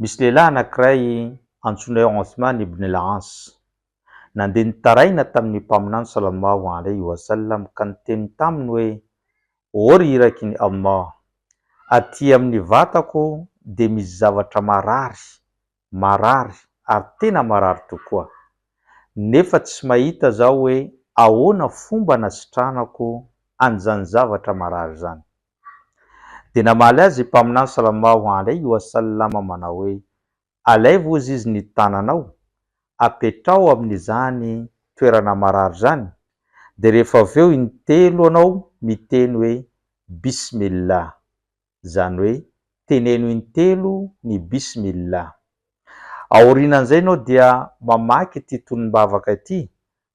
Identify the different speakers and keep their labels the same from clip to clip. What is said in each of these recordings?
Speaker 1: Misy lehilahy anankiray antsoina hoe Othman ibn al-As, nandeha nitaraina tamin'ny Mpaminany sallallahu alayhi wa sallam ka niteny taminy hoe, O ry Irakin'i Allah! Aty amin'ny vatako dia misy zavatra marary, marary ary tena marary tokoa. Nefa tsy mahita zaho hoe ahoana fomba anasitranako an'izany zavatra marary izany. Dia namaly azy i Mpaminany Salamaho alaihi wa sallam manao hoe, Alaivo ozy izy ny tananao, apetraho amin'izany toerana marary izany, dia rehefa avy eo intelo anao miteny hoe, Bismillah, izany hoe, teneno intelo ny Bismillah. Aorianan'izay ianao dia mamaky ity tonom-bavaka ity,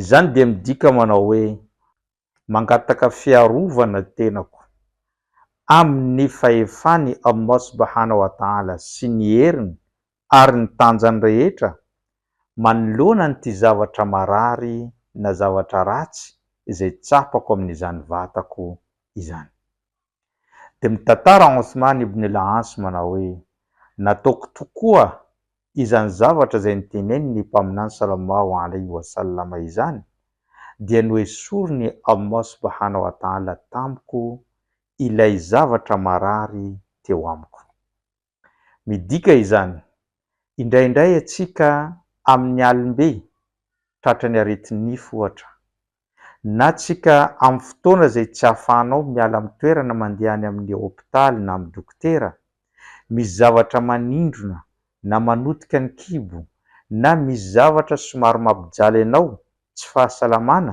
Speaker 1: Izany dia midika manao hoe mangataka fiarovana tenako amin'ny fahefan'i Allah Subhanahu wa Ta'ala sy ny heriny ary ny tanjany rehetra manoloana an'ity zavatra marary na zavatra ratsy izay tsapako amin'izany vatako izany. Dia mitantara Othman ibn al-'As manao hoe, Nataoko tokoa izany zavatra izay notenenin'ny Mpaminany sallallahu alayhi wa sallam izany, dia noesorin'i Allah subhanahu wa ta'ala tamiko ilay zavatra marary teo amiko. Midika izany, indraindray atsika amin'ny alim-be, tratra ny aretin-nify ohatra, na tsika amin'ny fotoana izay tsy ahafahanao miala amin'ny toerana mandeha any amin'ny hopitaly na amin'ny dokotera, misy zavatra manindrona na manotika ny kibo, na misy zavatra somary mampijaly anao, tsy fahasalamana,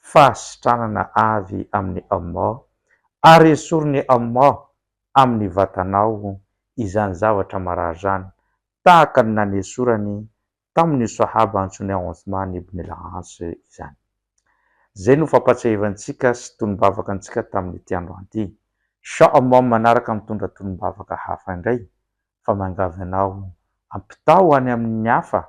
Speaker 1: fahasitranana avy amin'i Allah, ary esorin'i Allah amin'ny vatanao izany zavatra marary izany, tahaka ny nanesorany tamin'ny Sahaba antsoin'i Outhman ibn al-Aas izany. Izay no fampatsiahivantsika sy tonom-bavaka antsika tamin'ity androany ity. Sha Allah manaraka mitondra tonom-bavaka hafa indray, fa miangavy anao ampitao any amin'ny hafa